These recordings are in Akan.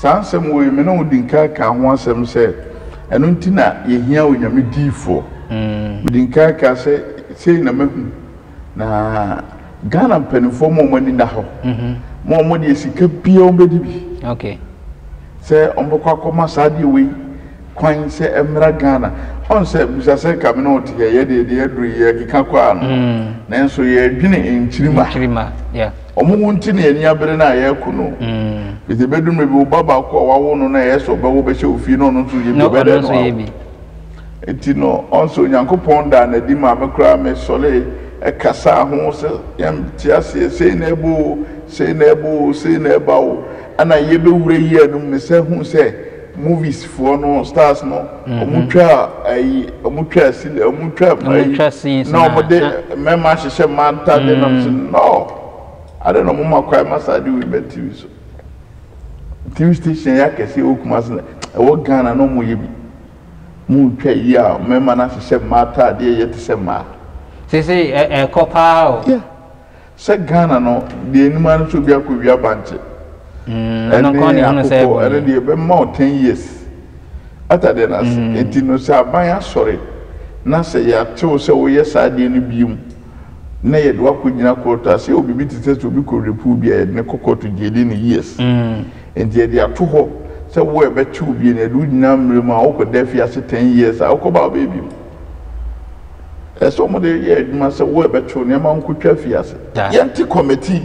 Saa nsɛm wei, me ne wo dii nkan kaa ho asɛm sɛ ɛno nti na yɛhia Onyame diifoɔ. Medi nkan kaa sɛ sei na mahu, na Ghana mpaninfoɔ ma wɔn ani nna hɔ, ma wɔn deɛ sika biara wɔn bɛdi bi sɛ wɔn bɛkɔ akɔma saa adeɛ wei kwan sɛ ɛmmra Ghana. Ɔn sɛ, bisa sɛ nka me ne wo te hɛ, yɛ deɛ deɛ aduru yi yɛkeka kɔ ara no, nanso yɛredwene nkyirima. Wɔn wu nti na yɛn ani abere no a, yɛko no. Enti ɛbɛduru mmerɛ bi, wo ba baako a woawo no na ɛyɛ sɛ ɔbɛwo wo bɛhyɛ wo fie na ɔno nso reyɛ bi, wobɛdɛn no awo? Enti no, ɔn sɛ Onyankopɔn daa no adi maa me koraa, mesɔree kasaa ho sɛ, Yɛnte aseɛ, sei na ɛba oo, sei na ɛba oo, sei na ɛba oo, ɛnna yɛbɛwura yea no mu, mesane huu sɛ, Movies foɔ no stars no ɔmo twa ayi ɔmo twa sini ɔmo twa ayi na ɔmo de mɛma ahyehyɛ mmaa ntaadeɛ na ɔmo sɛ no adeɛ na ɔmo ma kwan ma saa adeɛ wei ba tv so tv station ɛyɛ akɛseɛ ɛwɔ kumase na ɛwɔ Ghana na ɔmo yɛ bi mo ntwa yi a mɛma no ahyehyɛ mmaa ataadeɛ yɛ te sɛ mmaa. Sisi ɛkɔ paa o. Yeah. Sɛ Ghana no deɛ anim ara nso obi akɔ wia bankye ɛne akokɔ ɛne deɛ ɛbɛma wo ten years ata deɛ no ase nti no sɛ aban asɔre na sɛ yɛatew sɛ woyɛ saa adeɛ no bio mu na yɛde wakɔ gyina kɔɔto a sɛ yɛwɔ biribi te sɛ sɛ obi kɔ repu bi a yɛde no kɔ kɔɔto gye yɛde no years nti yɛde ato hɔ sɛ wo a ɛbɛtew bio no yɛde wo gyina mmerɛ mu a wokɔ da afiase ten years a wokɔ ba a wobɛyɛ bio. Ɛsɛ sɛ wɔde yɛ adwuma sɛ wɔrebɛtow nneɛma nkotwa fi ase. Yɛnte kɔmɛti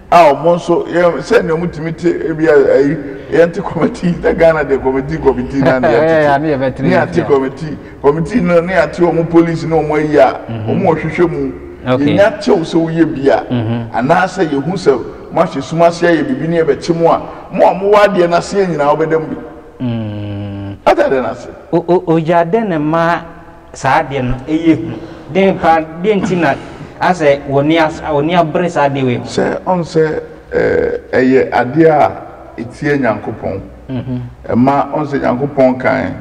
a wɔn nso yɛ sɛ nea wɔtumi te ebi ayi yɛnte kɔmɛti sɛ Ghana deɛ kɔmɛti kɔmɛti na ne yɛtete ne yɛate kɔmɛti kɔmɛti no ne yɛate wɔn polisi ne wɔn ayi a wɔn wɔ hwehwɛ mu yɛnya kyɛw sɛ woyɛ bi a anaasɛ yɛhu sɛ moahyɛ sum ase ayɛ biribi ne yɛbɛkye mo a mo a mowɔ adeɛ no aseɛ nyinaa wobɛda mu bi. Mm. Ɔda dɛn ase? Ogya dɛn na ɛma saa adeɛ no yɛ hu? Dɛn paa, dɛn nti na asɛ wɔni as wɔni abere saa adeɛ wei ho? Sɛ ɔn sɛ eh, ɛyɛ adeɛ a etia Nyankopɔn. Mhm. Ɛma ɔn sɛ Nyankopɔn kan,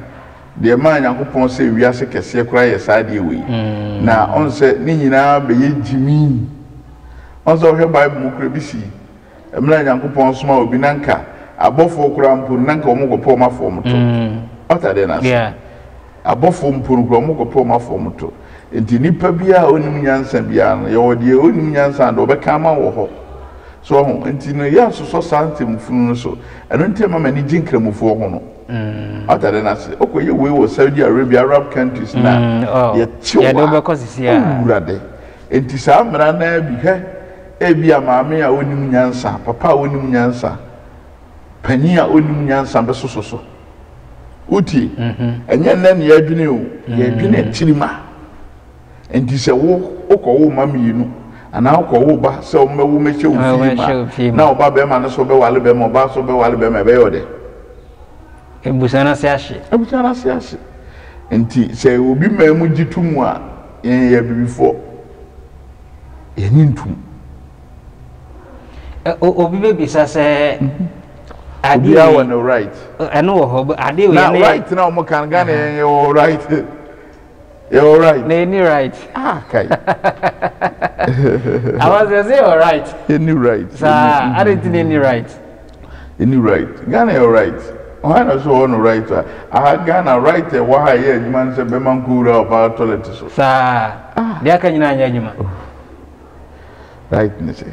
deɛ ɛmaa Nyankopɔn sɛ wiase kɛseɛ koraa yɛ saa adeɛ wei. Mm. Na ɔn sɛ ne nyinaa bɛyɛ gyimii. Ɔn sɛ wohwɛ Bible mu koraa ebi si. Mmerɛ a Nyankopɔn somaa obi na nka abɔfoɔ koraa mpo no na nka wɔn kɔpɛ wɔn afa wɔn to. What are then ase? Abɔfoɔ mpo no koraa wɔn kɔpɛ wɔn afa wɔn to. Nti nipa biara a ɔnim nyansa biara no, yɛwɔ deɛ ɔnim nyansa a deɛ ɔbɛka ama wo wɔ hɔ. So wahu? Nti no yɛ nsosɔ saa ntɛm funu no so. Ɛno nti ɛma m'ani gye nkramofoɔ ho no. What are then ase? Ɔkɔ yɛ wei wɔ Saudi Arabia, Arab countries no a, yɛte wo a, Awurade. Enti saa mmara no ara bi, hwɛ, ebia maame a onnim nyansa, papa a onnim nyansa, panyin a onnim nyansa bɛsoso so. Wotie? Ɛnyɛ nnɛ na yɛadwene o, yɛredwene tirim a. Enti sɛ wo, wokɔwo mma mmienu, anaa wokɔwo ba sɛ wɔmmɛwo mmɛhyɛ wo fie mu a, na ɔbabarima no nso bɛware barima, ɔbaa nso bɛware barima a, ɛbɛyɛ wo dɛ? Abusua no ase ahye. Abusua no ase ahye. Nti sɛ obi maa mu gye to mu a, yɛn yɛyɛ abibifoɔ. Yɛnye ntom. Obi bɛbisa sɛ adeɛ yi. Obiara wɔ ne right. Ɛno wɔ hɔ. Adeɛ wɔ yɛn. Na right na wɔn kan Ghana yɛn yɛ wɔ right. Yɛ wɔ right. Na yɛ ni right. Ah kai. Awa sɛ sɛ yɛ wɔ right. Yɛ ni right. Saa adi nti na yɛ ni right. Yɛ ni right. Ghana yɛ wɔ right. Ɔhan na so wɔ no right a. Aha Ghana right a ɛwɔ ha a ɛyɛ adwuma no sɛ bɛma nkowura ɔbaa tɔlɛt so. Saa. Ah. Deɛ aka nyinaa nyɛ adwuma. Oh. Right ne sɛ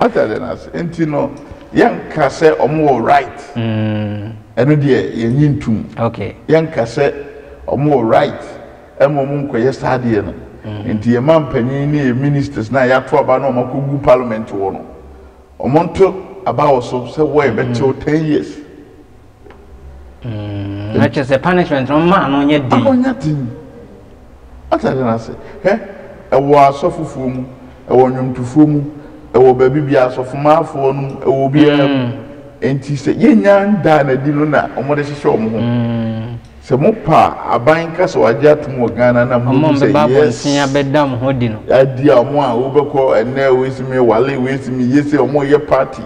wate adeɛ no ase nti no yɛnka sɛ ɔmo wɔ right ɛno deɛ yɛnye ntum yɛnka sɛ ɔmo wɔ right ɛma ɔmo nkɔyɛ saa adeɛ no nti yɛ ma mpanyin ne yɛ ministers no a yɛato aba no ɔmo akɔgu parliament wɔ no ɔmo nto aba wɔ so sɛ wɔ yɛbɛtew ten years Mm, na kyerɛ sɛ punishment no maa no nyɛ den. Ama nyɛ den. Atade no ase. Hwɛ, ɛwɔ asɔfofoɔ mu, ɛwɔ nnwomtofoɔ mu, ɛwɔ baabi biara, asɔfomaafoɔ no mu, ɛwɔ obiara mu. Mm. Enti sɛ yɛnnya ndaa no adi no na wɔde hyehyɛ wɔn ho. Mm. Sɛ mopa aban ka sɛ wɔagye atom wɔ Ghana na mo mu sɛ yes. Wɔn bɛba abɔnten abɛda mo ho di no. Adi a wɔn a wobɛkɔ ɛnɛ wei si me wale wei si me yese wɔn yɛ party.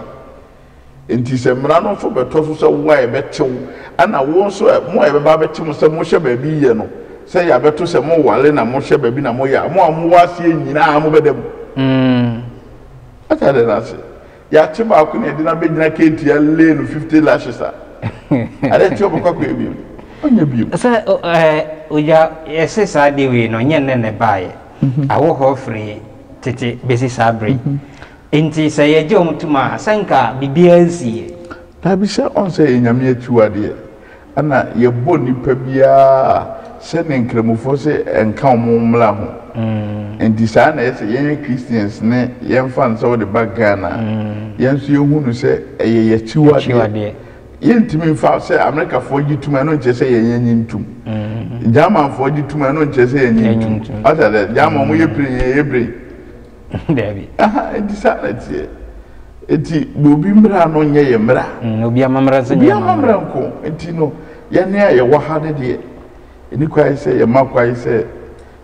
Enti sɛ mmara no nso bɛtɔ so sɛ wo a yɛbɛte wo, ɛnna wo nso ɛ, mo a yɛbɛba abɛte mo sɛ mohyɛ baabi yiyɛ no, sɛ yɛabɛto sɛ moware na mohyɛ baabi na moyɛ a, mo a mowɔ aseɛ nyinaa mobɛda mu. Mm. Ate adɛn no ase? Yɛate baako na yɛde no abɛgyina Ketia Lane no 50 lashes a, adɛn nti ɔbɛkɔ akɔyɛ bio? Ɔnyɛ bio. Sɛ o, ɛ, ogya, yɛse saa adeɛ wei no, ɛnyɛ nnɛ na ɛbaeɛ. Awo hɔ firi tete bɛsi saa bere yi. Enti sɛ yɛgye wɔn tom a, sɛ anka biribiara nsiiɛ. Daabi, sɛ ɔnsɛ yɛ Nyame akyiwadeɛ, ɛna yɛbɔ nipa biara a sɛ ne nkramofoɔ se ɛnka wɔn mmra ho. Enti saa na ɛyɛ sɛ yɛn yɛ Christians ne yɛmfa no sɛ wode ba Ghana a, yɛn nso yɛhu no sɛ ɛyɛ y'akyiwadeɛ. Yɛntumi mfa sɛ Amerikafoɔ gye tom a, ɛno nkyerɛ sɛ yɛn yɛnye ntom. Germanfoɔ gye tom a, ɛno nkyerɛ sɛ yɛnye ntom. Wate aseɛ? German wɔyɛ brain, yɛyɛ brain. Dabi. Aha, enti saa na ɛteɛ. Enti ma obi mmara no nyɛ yɛn mmara. Mm, obi amammerɛ nso nyɛ Obi yɛn amammerɛ amammerɛ. nko. Enti no, yɛn a yɛwɔ ha no deɛ, ɛni kwan sɛ yɛma kwan sɛ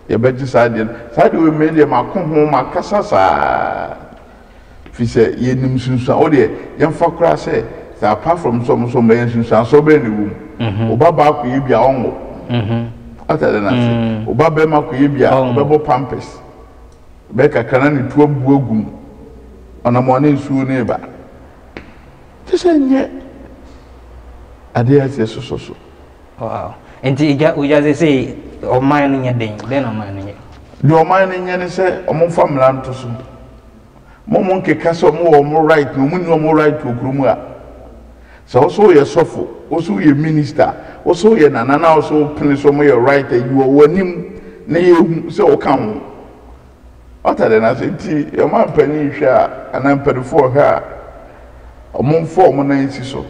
yɛbɛgye saa adeɛ no. Saa adeɛ wei, me deɛ mako ho, makasa saa. Ɛfiri sɛ yɛnim nsunsuan, wo deɛ, yɛmfa koraa sɛ, sɛ apart from sɛ wɔn nso wɔmmrɛ yɛn, nsunsuansoɔ bɛn na ɛwɔ mu? Wo ba baa akɔyɛ bi a, ɔnwo. Wate adeɛ no ase? Wo ba barima kɔyɛ bi a, ɔbɛbɔ pampers. Bɛyɛ kakra na ne tu abu agu mu. Ɔnam a na nsuo no reba. Kyerɛ sɛ ɛnyɛ adeɛ a ɛsɛ sɛ ɛsosɔ so. Wow. Nti gya ogya sɛ sei ɔman no nyɛ dɛn? Dɛn na ɔman no nyɛ? Deɛ ɔman no nyɛ ne sɛ wɔmfa mmara nto so. Mo mo nkeka sɛ ɔmo wɔ ɔmo right na ɔmo nni ɔmo right wɔ kuro mu a. Sɛ wo so wo yɛ sɔfo, wo so wo yɛ minister, wo so wo yɛ nana na wo so wo pene so ɔmo yɛ right a yiwɔ wo anim na yɛ hu sɛ wo ka ho. What are the na sɛ nti ɔma mpanin nhwɛ a anaa mpanifoɔ ɔhwɛ a ɔmo nfa ɔmo nan nsi so.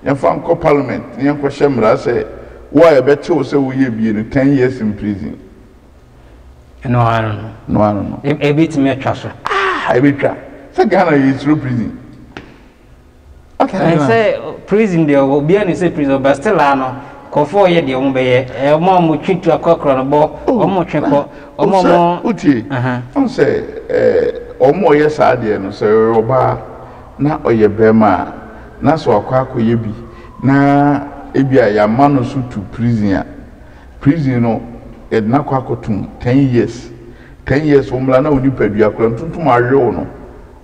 Yɛn fa nkɔ parliament na yɛn kɔ hyɛ mmara sɛ wo a yɛ bɛkye wo sɛ wo yɛ bie no ten years in prison. No ano no. No ano no. E, ebetumi atwa so. Ah, ebetwa. Sɛ Ghana yɛ esuro prison. Ɛn sɛ prison deɛ obiara ne sɛ prison ɔbɛ still ano kɔfɔ ɔyɛ deɛ ɔmo bɛyɛ ɔmo a ɔmo twi tu akɔkora no bɔ oh, ɔmo twe kɔ ɔmo oh, ɔmo. wotie ɔn sɛ ɛɛ ɔmo ɔyɛ saa deɛ no sɛ ɔyɛ ɔbaa na ɔyɛ bɛrima a na sɛ wakɔ akɔyɛ bi na ebi a yɛama no so tu prison a. Prison no yɛde no akɔ akɔtom ten years ten years wo mmra na wo nipadua koraa ntontom awe wo no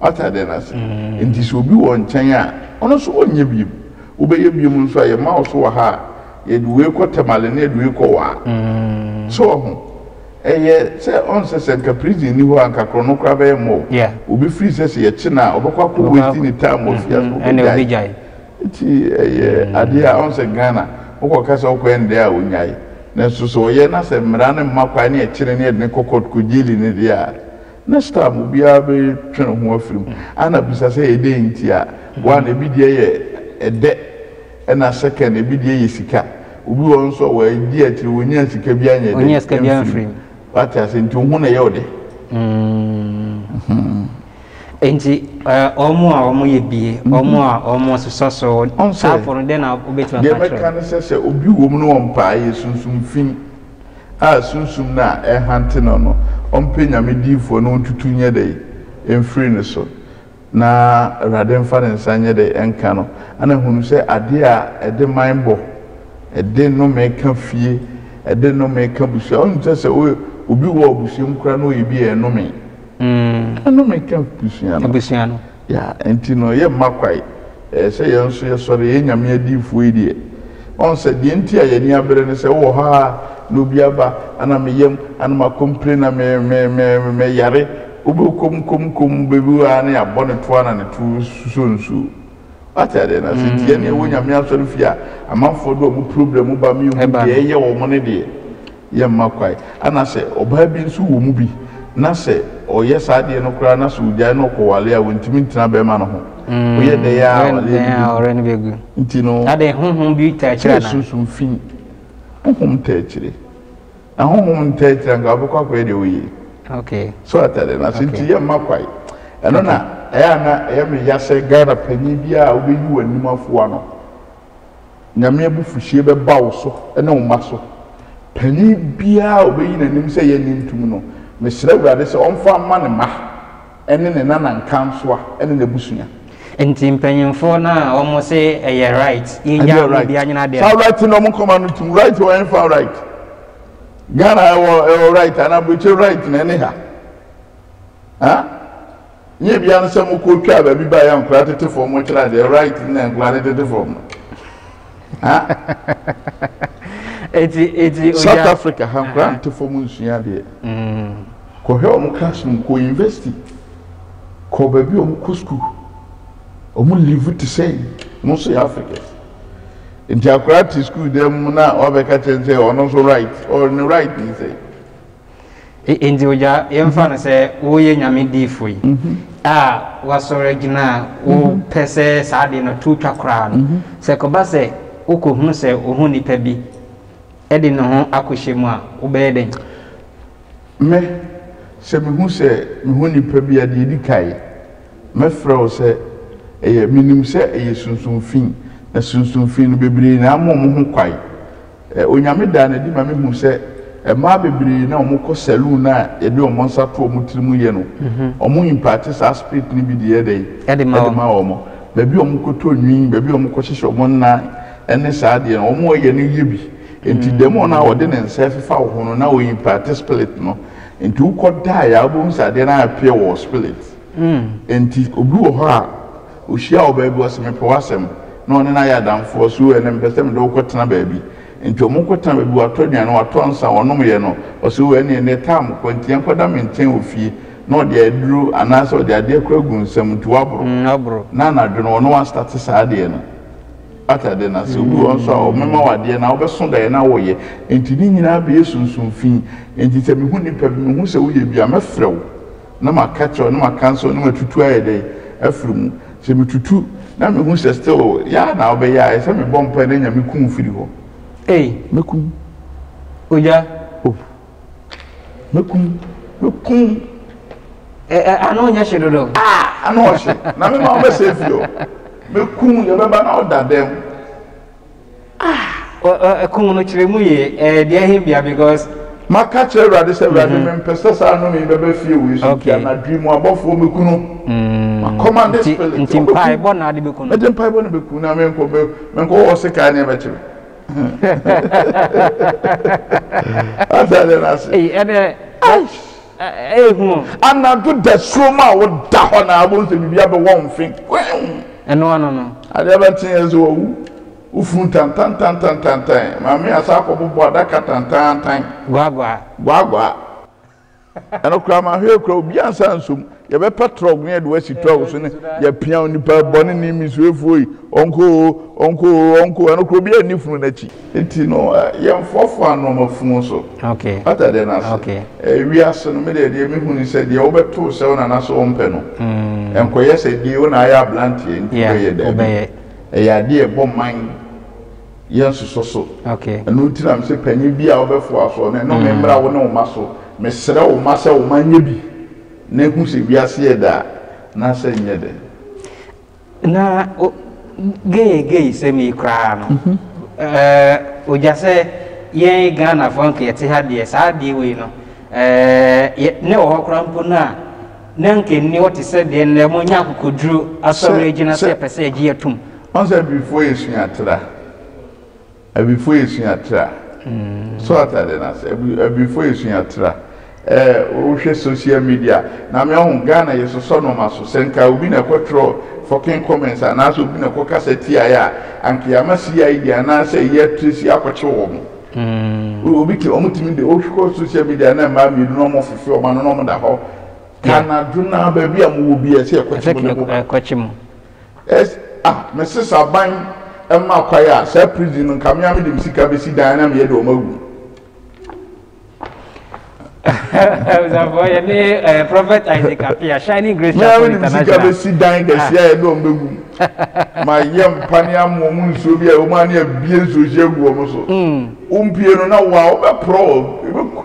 wate adeɛ no ase nti sɛ obi wɔ nkyɛn a ɔno nso ɔnyɛ biom wo bɛyɛ biom nso a yɛma wo so wɔ ha a yɛde wei kɔ Tamale na yɛde wei kɔ waa so wɔ ho ɛyɛ sɛ ɔnsɛ sɛ nka prison nni hɔ a nka korɔ no koraa bɛyɛ mmɔ wo obi firi sɛ sɛ yɛkye no a ɔbɛkɔ akɔ wei ti ne time wɔ fie a so ɔbɛgyae Nti ɛyɛ adeɛ a wohu sɛ Ghana wokɔka sɛ wokɔ ɛndɛ a wonyae nanso sɛ ɔyɛ na sɛ mmara no mma kwan ne ɛkyere ne yɛde no kɔ court kɔ gyeli no deɛ a next time obiara bɛtwe ne ho afiri mu a na bisa sɛ ɛdɛn nti a one ɛbi deɛ yɛ ɛdɛ ɛna second ɛbi deɛ yɛ sika obi wɔ hɔ nso a wadi akyire wɔnyaa sika bi anyɛ dɛn amfiri mu wate aseɛ nti wo ho na ɛyɛ wo dɛ. Enti wɔn a wɔyɛ bie, wɔn a wɔsosɔ so, saa afo no, dɛn na wobɛtumi aka akyerɛ wɔn? Deɛ mɛka ne sɛ, sɛ obi wom na ɔmpae yɛ sunsum fi a sunsum no a ɛrehante no no, ɔmpɛ Nyame diyifoɔ na ɔntutu nyɛ dɛn? mfiri ne so, na Awurade mfa ne nsa nyɛ dɛn? nka no, na hunu sɛ adeɛ a ɛde man bɔ, ɛde nnome ka fie, ɛde nnome ka abusua. Wonim sɛ sɛ obi wɔ abusua mu koraa na ɔyɛ bi a, ɛnome? Ɛno na ɛka abusua no. Abusua no. Yeah, nti no yɛ mma kwae. Ɛyɛ sɛ yɛn nso yɛ sɔre, yɛyɛ Nyame adiyifoɔ yi deɛ. Ɔn sɛ deɛ nti a yɛn ani abere ne sɛ wowɔ hɔ aa na obi aba ana me yam ana ma complain na me me me me yare wobɛ kom kom kom bɛbi wɔ aa na yɛabɔ ne toa na ne to susɔ nsuo. Wate adeɛ no ase nti yɛn deɛ yɛwɔ Nyame asɔre fie a amanfoɔ de wɔn problem ba me nhu deɛ ɛyɛ wɔn ne deɛ. yɛ mma kwae, ɛna sɛ ɔbaa bi nso wɔ mu bi na sɛ ɔyɛ saa adeɛ no koraa na sɛ ɔgyae na ɔkɔ wale a ɔntumi ntena bɛɛma no ho, ɔyɛ dɛn a awaleɛ no bɛgu, nti no sɛ sunsum fi, honhom ntaa akyire, na honhom ntaa akyire anka wobɛkɔ akɔyɛ deɛ woyɛ yi, so wate adeɛ no ase, nti yɛ mma kwae, ɛno na ɛyɛ a na ɛyɛ me ya sɛ Ghana panin biara a wobɛyi w'anim afoa no. Nyame abufuhyeɛ bɛba wo so ne wo mma so. Panin biara a ɔbɛyi n'anim sɛ yɛnnye ntom no, mesrɛ Awurade sɛ ɔmfa mma ne mma ne ne nanankansoa ne n'abusua. Nti mpanyinfoɔ no a wɔn se ɛyɛ right yɛngya wɔn bia nyina adeɛ no. Saa right no wɔn nkɔma no tum right wɔ ɛnfa right Ghana ɛwɔ ɛwɔ right ana aburokyire right na ɛne ha ha Nyɛ bia no sɛ mo kɔ twaa baabi baeɛ a nkura tete fam mo kyerɛ adeɛ right na nkura no tete fam no. Eti eti oya. South Africa ha nkura nte fam nsua adeɛ. Mm. Kɔhwɛ wɔn classroom kɔ university kɔ baabi a wɔn kɔ school wɔn live te sɛ mo nso yɛ Africans. Nti akora te school dɛm na wabɛka kyɛn sɛ ɔno nso right ɔno right yi sɛ. Enti ogya, yɛmfa no sɛ woyɛ Nyame diyifo yi a woasɔre agyina a wopɛ sɛ saa ade no to twa koraa no, sɛ ɛkɔba sɛ wokɔhunu sɛ wo ho nipa bi de ne ho akɔhyɛ mu a, wobɛyɛ dɛn? Me, sɛ mehu sɛ me ho nipa bi a, deɛ ɛdi kan, mɛfrɛ wo sɛ ɛyɛ, menim sɛ ɛyɛ sunsum fi, na sunsum fi no bebree na ama wɔn ho kwan. Onyame daa no adi ma mehuu sɛ mmaa bebree na wɔkɔ saloon no a yɛde wɔn nsa to wɔn tiri mu yɛ no, wɔn imparte saa spirit no bi de yɛ dɛn? De ma wɔn. Baabi a wɔkɔtɔ nwi, baabi a wɔkɔhyehyɛ wɔn nnan ne saa adeɛ no, wɔyɛ no yɛ bi. Nti dɛmon no a ɔde ne nsa ɛfefa wo ho no na ɔ imparte spirit no. Nti wokɔ daeɛ a wobɛhu sɛ adeɛ no ayɛ pure wɔ wo spirit. Nti obi wɔ hɔ a. Ohyiaa wɔ baabi, ɔse mepɛ w'asɛm, na ɔne no ayɛ adamfo, ɔse oo ɛnɛ mepɛ sɛ mede wo kɔtena baabi. Nti ɔmo kɔtena baabi, watɔ aduane, watɔ nsa, ɔnomyɛ no, ɔse oo ɛneɛ nnɛ taa mekɔ, nti yɛnkɔda me nkyɛn wɔ fie, na ɔde aduro anaasɛ ɔde adeɛ kora agu nsam, nti waboro, na anadwo no ɔne w'astate saa adeɛ no, wate adeɛ no ase, obi wɔ hɔ nso a ɔmema wo adeɛ na wobɛso daeɛ na woyɛ, nti ne nyinaa bɛyɛ sunsum fi, nti sɛ mehu nipa bi, mehu sɛ woyɛ bi a, mɛfrɛ wo, na maka kyerɛw na maka nso na matutu ayɛ dɛ afiri mu sɛ metutu na mehu sɛ still yaa na wobɛyɛ a ɛsɛ mebɔ mpae na nyame ku wo firi hɔ ei mɛkum ogya oh mɛkum mɛkum ɛ ɛ ano nyɛ hye dodo ah ano ɔhye na mema wobɛsɛ firi hɔ mɛkum yɛbɛba na woda dɛm Ah! Kum no kyerɛ mu yie. Ɛyɛ dea he bia because. Maka kyerɛ Awurade sɛ, Awurade, mempɛ sɛ saa nnome yi bɛba fie wei so, nti anadwo yi mu abɔfoɔ mmɛku no. Makɔma de spirit. Nti mpaebɔ na ade bɛku no? Mede mpaebɔ na bɛku na menkɔ menkɔ hɔ se kaa ne ɛbɛkye me. Atade no ase. Ɛnɛ. Anadwo dasuo mu a woda hɔ na wobɛhu sɛ biribi abɛwɔ wo mfe kweew! Adeɛ bɛnte yɛ sɛ wawu, wo funu tantan tantan tantan, Maame asan akɔbobɔ adaka tantaantan. Gwaagwaa. Gwaagwaa. Ɛno koraa, mahwɛ yi koraa, obiara nsa nsɔ mu. Yɛbɛpɛ trɔk na yɛde wo asi trɔk so na yɛapia wo, nipa bɔneni, misuafoɔ yi, ɔnkɔ oo, ɔnkɔ oo, ɔnkɔ oo, ɛno koraa obiara nni funu no akyi. Nti no, yɛmfoafoa nnoɔma funu so. Wate adeɛ no ase? Wiase no, me deɛ deɛ mehu ne sɛ, deɛ wobɛtoo sɛ wo nana sɛ ɔmpɛ no, ɛnkɔyɛ sɛ dee wo na ayɛ abranteɛ nti wobɛyɛ, daabi. Ɛyɛ adeɛ a ɛbɔ mman, yɛnsosɔ so. Ɛno nti na mese panyin biara a wobɛfoa soɔ no, nnome mmra wo ne wo mma so. Mesrɛ wo mma sɛ wo mma nyɛ bi. Na ehu sɛ wiase yɛ dɛ a, na sɛ nyɛ dɛ. Na o gay gay sɛm yi koraa no, eh, ogya sɛ yɛn Ghanafoɔ nka yɛte ha deɛ, saa adeɛ wei no, eh, yɛ, na ɛwɔ hɔ koraa mpo no a, na nka ɛnni hɔ te sɛ deɛ nnɛ mo nya akokoduro asɔre agyina sɛ yɛpɛ sɛ yɛgye yɛtom. Ɔn sɛ Abibifoɔ yɛ sua tra. Abifo esua tra. So ate ade no ase? Abifo esua tra. Eh, wo hwɛ social media a, na me ɔho, Ghana yɛ sosɔ nnoɔma so. Sɛ nka obi na ɛkɔ twerɛ fucking comments anaa sɛ obi na ɛkɔ kasa tia yɛ a, anka yɛama CID anaa sɛ yɛ tracy akɔkye wɔn. Wo, obi te, wɔn tumi de, wo kɔ social media na mmaa mmienu na wɔn fefe wɔn ano na wɔn da hɔ, ka anadwo no ara baabi a mo wɔ biara sɛ yɛkɔkye mo na mo ba. Yes ah me sis aban mma kwae a saa prison no nka me a me de me sika besi dan na me yɛ de ɔmo agu. Ɔsafo yɛ ne eh, Prophet Isaac Apia Shining Grace Chapel International. Mìíràn mi si dan kɛse a yɛde wɔn bɛgu mu. Ma yɛ mpa ne amu wɔn nsuo bi a wɔn ani abie nsuohyɛ gu wɔn so. Wompie no na wa wobɛporɔ wɔn.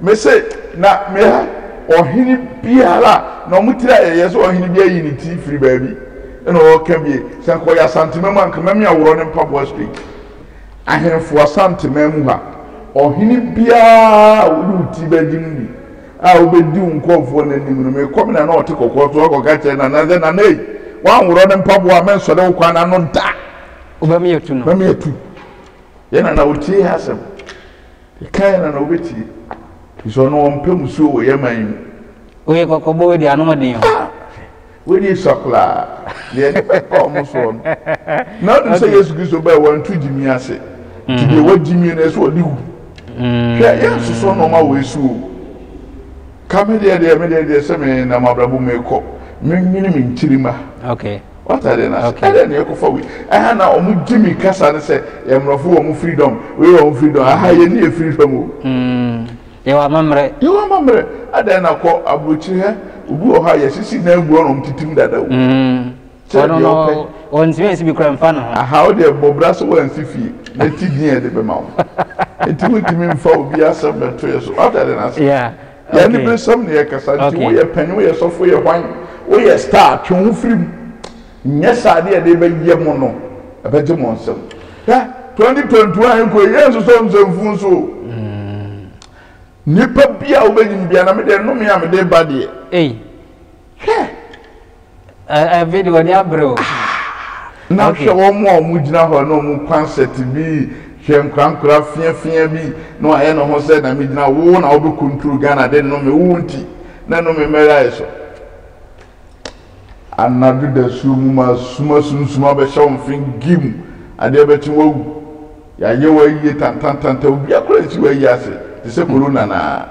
Mese, na meha ɔhene biara a, na wɔn tiri ayɛ yɛ sɛ ɔhene bi ayi ne ti firi baabi na ɔreka bie. Sɛ anka ɔyɛ Asanteman mu a, anka mɛmea worɔ ne mpaboa straight. Ahemfo Asanteman mu ha, ɔhene biara a wode wo ti bɛgye no bi a wobɛdi wo nkurɔfoɔ no anim no, mekɔ me nana a ɔte kɔkɔɔ so hɔ kɔka kyerɛ nana sɛ, Nana ei, woanworɔ ne mpaboa a, mensɔre wo kwan ano da. Wobɛmea tu no. Mɛmea tu. Yɛn nana, wotie yɛn asɛm. Yɛka yɛn a na wobɛtie. Firi sɛ ɔno ɔmpɛ mmusuo wɔ yɛn man mu. Woyɛ kɔkɔbɔ wei deɛ ano ɔden o. Ah! Wei deɛ esua koraa. Deɛ nnipa ɛpa wɔn soɔ no. Na wonim sɛ Yesu Kristo baeɛ wantu gyimie ase. Nti deɛ wagyimie no ɛsɛ ɔde wu. Hwɛ yɛnsoso nnoɔma wei so o. Ka me deɛ deɛ me deɛ deɛ sɛ me nam abrabɔ mu mekɔ. Menwene me nkyirimma. Okay. W'atadeɛ no ase ɛdɛn na yɛkɔfa wei ɛha na wɔn gye mi kasa no sɛ yɛ mmorɔfo wɔ wɔn freedom wei wɔ wɔn freedom aha yɛ ni yɛ freedom o. Mm, yɛ wɔ amammerɛ. Yɛ wɔ amammerɛ ɛdɛn na kɔ aburokyire hɛ obi wɔ hɔ a yɛsisi na egu ɔnom titim dada o. Mm, ɔno no ɔntumi nsi bi kura nfa ne ho. Aha ɔde ɛbɔ bra so wɔnsi fie na ti din yɛ de bɛma wɔn nti wɔntumi nfa obi asɛm bɛto yɛ so w'atadeɛ no ase. Yeah. Yɛn aniberesɛm na yɛkasa nti woyɛ panyin woyɛ sɔfo woyɛ hwan woyɛ star twe wo ho firi mu nyɛ saa deɛ ɛde bɛyɛ mo no ɛbɛgye mo nsam hwɛ 2021 ɛkɔ yi yɛn nsosɔ nsɛmfuu nso o nipa bi a wobɛnyim bia na me deɛ nnome a mede ba deɛ. Hwɛ. Ɛ ɛ video ni abere o. Ah, na hwɛ wɔn a wɔn gyina hɔ na wɔn concert bi hwɛ nkorankora fiafia bi na wɔayɛ ne ho sɛ na me gyina wo na wɔbɛ control Ghana de nnome wo wo nti na nnome mmɛyɛ ayɛ so anadwo dasuo mu ma suma sunsum abɛhyɛ wɔn fe gim adeɛ bɛkye wawu yɛayɛ wo ayie tantantantan obia kora nsi wo ayie ase te sɛ corona na.